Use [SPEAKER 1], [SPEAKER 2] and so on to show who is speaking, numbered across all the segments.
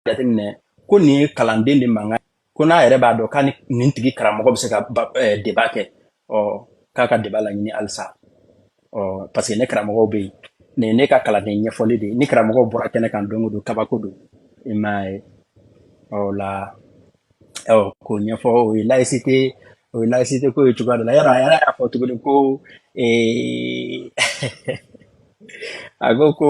[SPEAKER 1] jateminɛ ko nin ye kalanden de mankan ko n'a yɛrɛ b'a dɔn k'a ni nin tigi karamɔgɔ bɛ se ka eh, débat kɛ ɔ k'a ka débat laɲini halisa ɔ parce que ne karamɔgɔw bɛ yen nin ye ne ka kalanden ɲɛfɔli de ye ni karamɔgɔw bɔra kɛnɛ kan don o don kabako don i m'a ye ɔ o la ɔ k'o ɲɛfɔ o ye laïcité o ye laïcité ko ye cogoya dɔ la yɔrɔ a yɛrɛ y'a fɔ tuguni ko ee a ko ko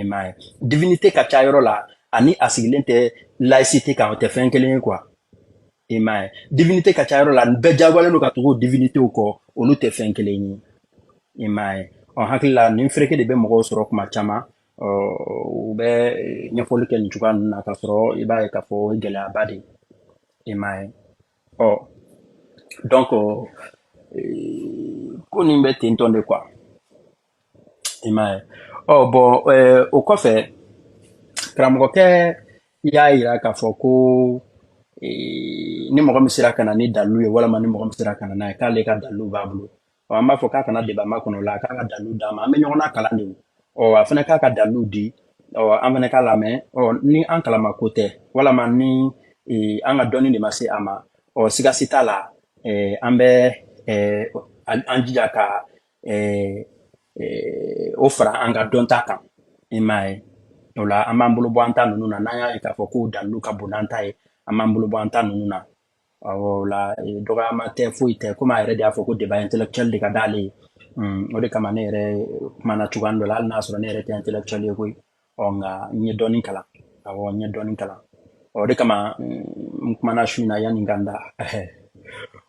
[SPEAKER 1] i m'a ye divinité ka ca yɔrɔ la ani a sigilen tɛ laïcité kan o tɛ fɛn kelen ye quoi i m'a ye divinité ka ca yɔrɔ la nin bɛɛ jagoyalen don ka tugu o divinitéw kɔ olu tɛ fɛn kelen ye i m'a ye ɔ hakili la nin fereke de bɛ mɔgɔw sɔrɔ kuma caman ɔ u bɛ ɲɛfɔli kɛ nin cogoya ninnu na k'a sɔrɔ i b'a ye k'a fɔ o ye gɛlɛyaba de ye i m'a ye ɔ donc ko nin bɛ ten tɔn de quoi i m'a ye ɔ bon eh, o kɔfɛ karamɔgɔkɛ y'a yira k'a fɔ ko eh, ni mɔgɔ min sera ka na ni dalilu ye walima ni mɔgɔ min sera ka na n'a ye k'ale ka dalilu b'a bolo ɔ an b'a fɔ k'a kana débat makɔnɔ o la a k'a ka dalilu d'an ma an bɛ ɲɔgɔn na kalan de o ɔ a fana k'a ka dalilu di ɔ an fana k'a lamɛn ɔ ni an kalama ko tɛ walama ni eh, an ka dɔnni de ma se a ma ɔ siga si t'a la eh, an bɛ eh, an an jija ka eh, eh, o fara an ka dɔnta kan i m'a ye o la an b'an bolo bɔ an ta ninnu na n'an y'a ye k'a fɔ k'o dalilu ka bon n'an ta ye an b'an bolo bɔ an ta ninnu na awɔ o la eh, dɔgɔyama tɛ foyi tɛ komi a yɛrɛ de y'a fɔ ko débat intellectuel de ka d'ale ye o de kama ne yɛrɛ kumana cogoya dɔ la hali n'a sɔrɔ ne yɛrɛ tɛ intellectuel ye koyi ɔ nka n ye dɔɔni kalan awɔ n ye dɔɔni kalan ɔ o de kama n kumana su in na yanni n ka n da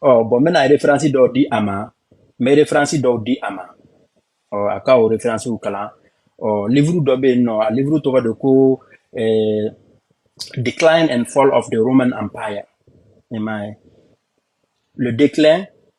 [SPEAKER 1] ɔ bon n bɛna référence dɔw di a ma n bɛ référence dɔw di a ma ɔ a ka o référencew kalan ɔ livre dɔ bɛ yen nɔ a livre tɔgɔ de ko eh, decline and fall of the roman empire i m'a ye le déclin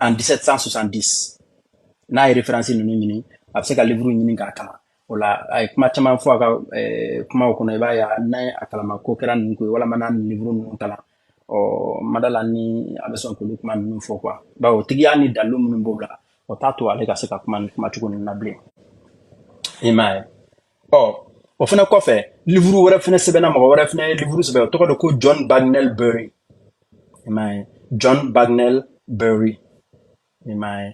[SPEAKER 1] en 1770 n'a ye référence ninnu ɲini a bɛ se ka livre ɲini k'a kalan o la a ye kuma caman fɔ a ka eh, kumaw kɔnɔ i b'a ye n'a ye a kalama ko kɛra ninnu ko ye walama n'a nin livre ninnu kalan ɔ ma d'a la ni a bɛ sɔn k'olu kuma ninnu fɔ quoi bawo tigiya ni dalilu minnu b'o la o t'a to ale ka se ka kuma nin kumacogo ninnu na bilen i m'a ye ɔ o fana kɔfɛ livre wɛrɛ fana sɛbɛnna mɔgɔ wɛrɛ fana ye livre sɛbɛn o tɔgɔ de ko john bagnell bury i m'a ye john bagnell bury i m'a ye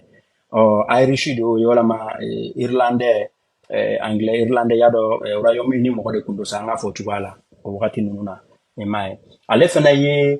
[SPEAKER 1] ɔ irish de y'o ye walama eh, irlandais eh, anglais irlandais y'a dɔn eh, royaume uni mɔgɔ de tun don sa an k'a fɔ o cogoya la o wagati ninnu na i m'a ye ale fana ye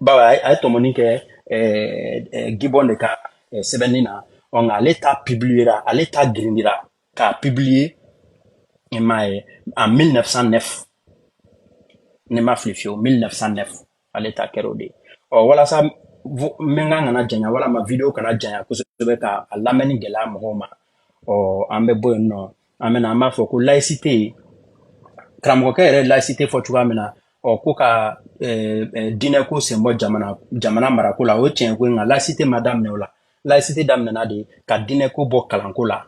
[SPEAKER 1] bawo a ye a ye tɔmɔni kɛ eh, eh, gibbon de ka eh, sɛbɛnni na ɔ nka ale ta publiera ale ta girindira k'a publie i m'a ye en 1909 ne ma fili fiyewu 1909 ale ta kɛra o de ye ɔ walasa vo- n bɛ n kan kana janya walama video kana janya kosɛbɛ ka a lamɛnni gɛlɛya mɔgɔw ma ɔ an bɛ bɔ yen nɔ an bɛna an b'a fɔ ko laïcité karamɔgɔkɛ yɛrɛ laïcité fɔ cogoya min na ɔ ko ka diinɛko sen bɔ jamana jamana marako la o ye tiɲɛ ko ye nka laïcité ma daminɛ o la laïcité daminɛna de ka diinɛko bɔ kalanko la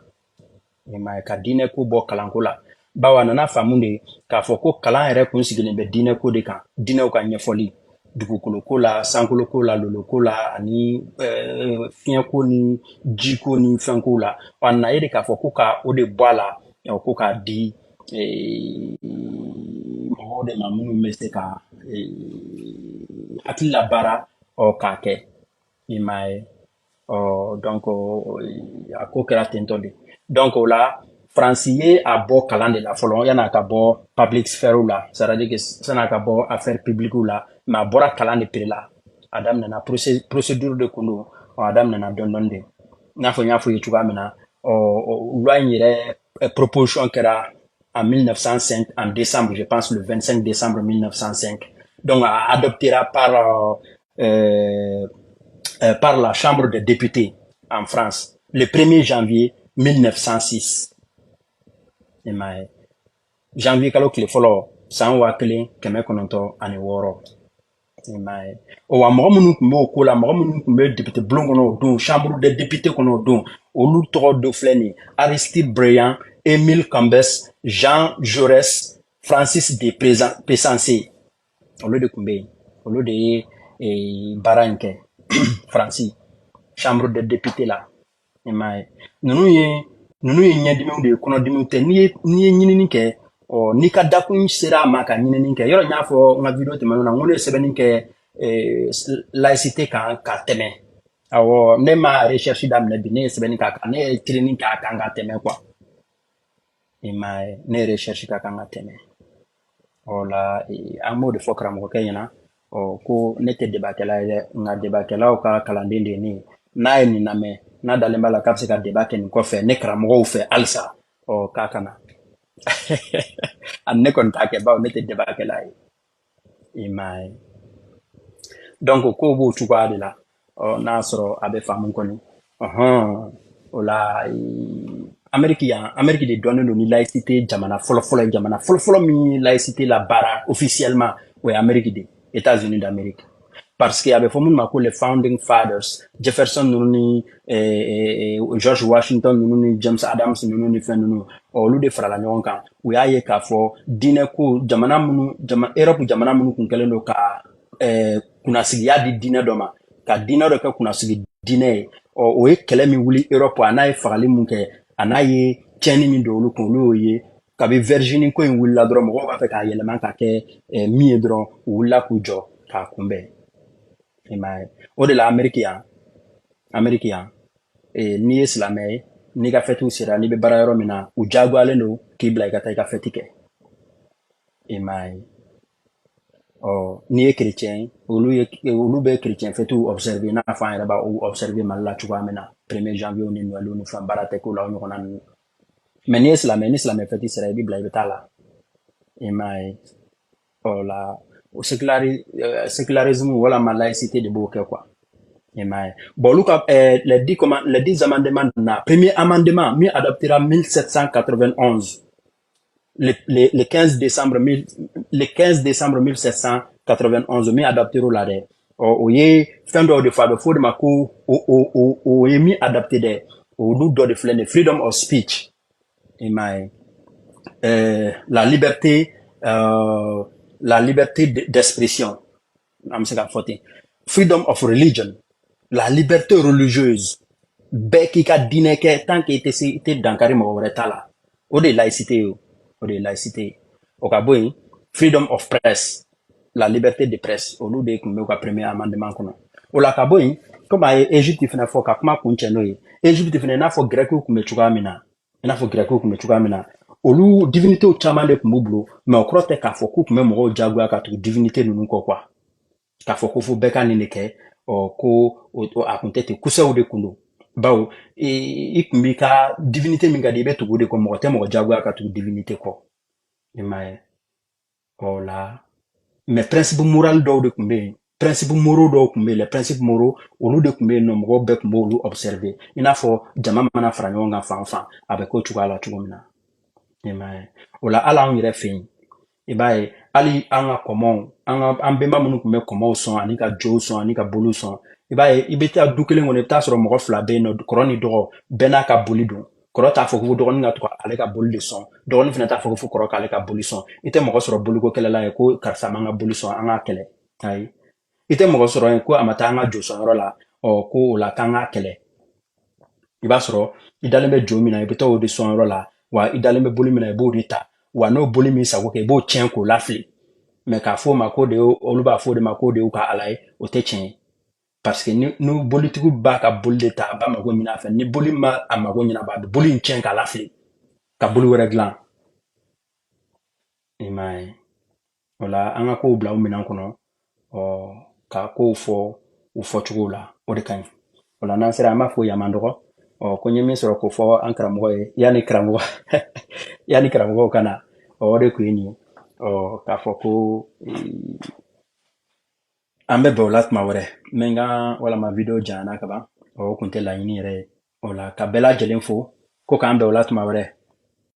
[SPEAKER 1] i m'a ye ka diinɛko bɔ kalanko la bawo a nana faamu de k'a fɔ ko kalan yɛrɛ kun sigilen bɛ diinɛko de kan diinɛw ka ɲɛfɔli dugukolo ko la sankolo ko la lolo ko la ani eh, fiɲɛ ko ni ji ko ni fɛn ko la a nana ye de k'a fɔ ko ka o de bɔ a la ko k'a di eh, mɔgɔw de ma minnu bɛ se ka eh, hakili labaara ɔ k'a kɛ i m'a ye ɔ donc a ko kɛra tentɔ de donc o la faransi ye a bɔ kalan de la fɔlɔ yan'a ka bɔ public sphère la c'est à dire que san'a ka bɔ affaire publique la mais a bɔra kalan de pere la a daminɛna procédure de kun don a daminɛna dɔɔni dɔɔni de i n'a fɔ n y'a fɔ ye cogoya min na ɔ loi in yɛrɛ eh, proposition kɛra en 1905 en décembre je pense le 25 décembre 1905 donc a adoptera par euh, euh, euh, par la Chambre des députés en France le 1er janvier 1906. I m'a ye janvier kalo tile fɔlɔ san waa kelen kɛmɛ kɔnɔntɔn ani wɔɔrɔ i m'a ye o wa mɔgɔ minnu tun b'o ko la mɔgɔ minnu tun bɛ depite bulon kɔnɔ o don chambre des députés kɔnɔ o don olu tɔgɔ dɔ filɛ nin aristide briand émile combes jean jaurès francis de pressensé olu de tun bɛ yen olu de ye eh, baara in kɛ faransi chambre des députés la i m'a ye ninnu ye ninnu ye ɲɛdimiw de ye kɔnɔdimiw tɛ n'i ye n'i ye ɲinini kɛ ɔ n'i ka dakun sera a ma ka ɲinini kɛ yɔrɔ n y'a fɔ n ka video tɛmɛnenw na n ko ne ye sɛbɛnni kɛ eh, laïcité kan ka tɛmɛ awɔ ne ma recherche daminɛ bi ne ye sɛbɛnni k'a kan ne ye training k'a kan ka tɛmɛ quoi i m'a ye ne ye recherche k'a kan ka tɛmɛ o la an b'o de fɔ karamɔgɔkɛ ɲɛna ɔ ko ne tɛ debakɛla ye dɛ nka debakɛlaw ka kalanden de ye ne ye n'a ye nin lamɛn n'a dalen b'a la k'a bɛ se ka débat kɛ nin kɔfɛ ne karamɔgɔw fɛ halisa ɔ k'a kana ne kɔni t'a kɛ bawo ne tɛ debakɛla ye i m'a ye donc kow b'o cogoya de la ɔ n'a sɔrɔ a bɛ faamu kɔni ɔhɔn o la ameriki yan ameriki de dɔnnen don ni laïcité jamana fɔlɔfɔlɔ ye jamana fɔlɔfɔlɔ min ye laïcité labaara officiellement o ye ameriki de ye états unis d'amérique parce que a bɛ fɔ minnu ma ko les founding fathers jefferson ninnu ni eh, eh, george washington ninnu ni james adams ninnu ni fɛn ninnu olu de farala ɲɔgɔn kan u y'a ye k'a fɔ diinɛ ko jamana minnu jama europe jamana minnu kun kɛlen don ka eh, kunnasigiya di diinɛ dɔ ma ka diinɛ dɔ kɛ kunnasigi diinɛ ye ɔ o ye kɛlɛ min wuli europe a n'a ye fagali min kɛ a n'a ye tiɲɛni min don olu kun olu y'o ye kabi virginie ko in wulila dɔrɔn mɔgɔw b'a fɛ k'a yɛlɛma ka kɛ eh, min ye dɔrɔn u wulila k'u jɔ k'a kunbɛn i m'a ye o de la ameriki yan ameriki yan eh, n'i ye silamɛ ye n'i ka fɛtiw sera n'i bɛ baara yɔrɔ min na u jagoyalen don k'i bila i ka taa i ka fɛti kɛ i m'a ye ɔ n'i ye kerecɛn ye olu ye olu bɛ kerecɛn fɛtiw observe i n'a fɔ an yɛrɛ b'a observe mali la cogoya min na premier janvier ni noël ni fɛn baara tɛ k'o la o ɲɔgɔnna ninnu mais n'i ye silamɛ ni silamɛ fɛti sera i bɛ bila i bɛ taa la i m'a ye o la o séculari eh, sécularisme walama laïcité de b'o kɛ quoi i m'a ye bon olu ka eh, les dix comment les dix amendements na premier amendement min adoptera 1791 le, le, le 15 décembre 1000 le 15 décembre 1791 min adoptera la dɛ ɔ o ye fɛn dɔw de fɔ a bɛ fɔ o de ma ko o o o o ye min adopter dɛ olu dɔ de filɛ nin ye freedom of speech i m'a ye ɛɛ la liberté euh, la liberté d'expression an bɛ se k'a fɔ ten freedom of religion la liberté religieuse bɛɛ k'i ka diinɛ kɛ tant que i tɛ se i tɛ dankari mɔgɔ wɛrɛ ta la o de ye laïcité ye o de ye laïcité ye o ka bɔ yen freedom of press la liberté de presse olu de tun bɛ u ka premier amendement kɔnɔ o la ka bɔ yen komi a ye Egypte fana fɔ ka kuma kuncɛ n'o ye Egypte fana i n'a fɔ grɛkiw tun bɛ cogoya min na i n'a fɔ gɛrɛkiw tun bɛ cogoya min na olu divinitéw caman de tun b'u bolo mais o kɔrɔ tɛ k'a fɔ k'u tun bɛ mɔgɔw jagoya ka tugu divinité ninnu kɔ quoi k'a fɔ ko fo bɛɛ ka nin de kɛ ɔ ko a tun tɛ ten kusɛw de tun don bawo i tun b'i ka divinité min ka di i bɛ tugu o de kɔ mɔgɔ tɛ mɔgɔ jagoya ka tugu divinité kɔ i m'a ye o la mais principe moral dɔw de tun bɛ yen principes moraux dɔw tun bɛ yen principes moraux olu de tun bɛ yen nɔ mɔgɔw bɛɛ tun b'olu observer i n'a fɔ jama mana fara ɲɔgɔn kan fan o fan a bɛ k'o cogoya la cogo min na i m'a ye o la hali anw yɛrɛ fɛ yen i b'a ye hali an ka kɔmɔw an ka an bɛnba minnu tun bɛ kɔmɔw sɔn ani ka jow sɔn ani ka boliw sɔn i b'a ye i bɛ taa du kelen kɔnɔ i bɛ taa sɔrɔ mɔgɔ fila bɛ yen nɔ kɔrɔ ni dɔgɔ bɛɛ n'a ka boli don kɔrɔ t'a fɔ ko dɔgɔnin ka to ka ale ka boli de sɔn dɔgɔnin fana t'a fɔ ko fo kɔrɔ k'ale ka boli sɔn i tɛ mɔgɔ sɔrɔ boliko kɛlɛ la yen ko karisa ma n ka boli sɔn an k'a kɛlɛ ayi i tɛ mɔgɔ sɔrɔ yen ko a ma taa an ka jo sɔnyɔrɔ la ɔ ko o la k'an k'a kɛlɛ i b'a sɔrɔ i dalen bɛ jo min na i bɛ taa o de sɔnyɔrɔ la wa i dalen bɛ boli min na i b'o de ta wa n'o boli m'i sago kɛ i b'o tiɲɛ k'o lafili mais k'a fɔ o ma k'o de y'o- olu b'a fɔ o de ma k'o de y'u ka ala ye o tɛ tiɲɛ ye parce que ni bolitigiw b'a ka boli de ta a b'a mago ɲin'a fɛ ni boli ma a mago ɲɛnabɔ a bɛ boli in tiɲɛ k'a lafili ka boli wɛrɛ dilan i m'a ye o la an ka kow bila u minɛn kɔnɔ ɔ ka kow fɔ u fɔcogow la o de ka ɲi o la n'an sera an b'a fɔ yaman dɔgɔ ɔ ko n ye min sɔrɔ k'o fɔ an karamɔgɔ ye yanni karamɔgɔ yanni karamɔgɔw ka na ɔ o de tun ye nin ye ɔ k'a fɔ ko an bɛ bɛn o la tuma wɛrɛ n bɛ n ka walama video janyana kaban o kun tɛ laɲini yɛrɛ ye o la ka bɛɛ lajɛlen fo ko k'an bɛn o la tuma wɛrɛ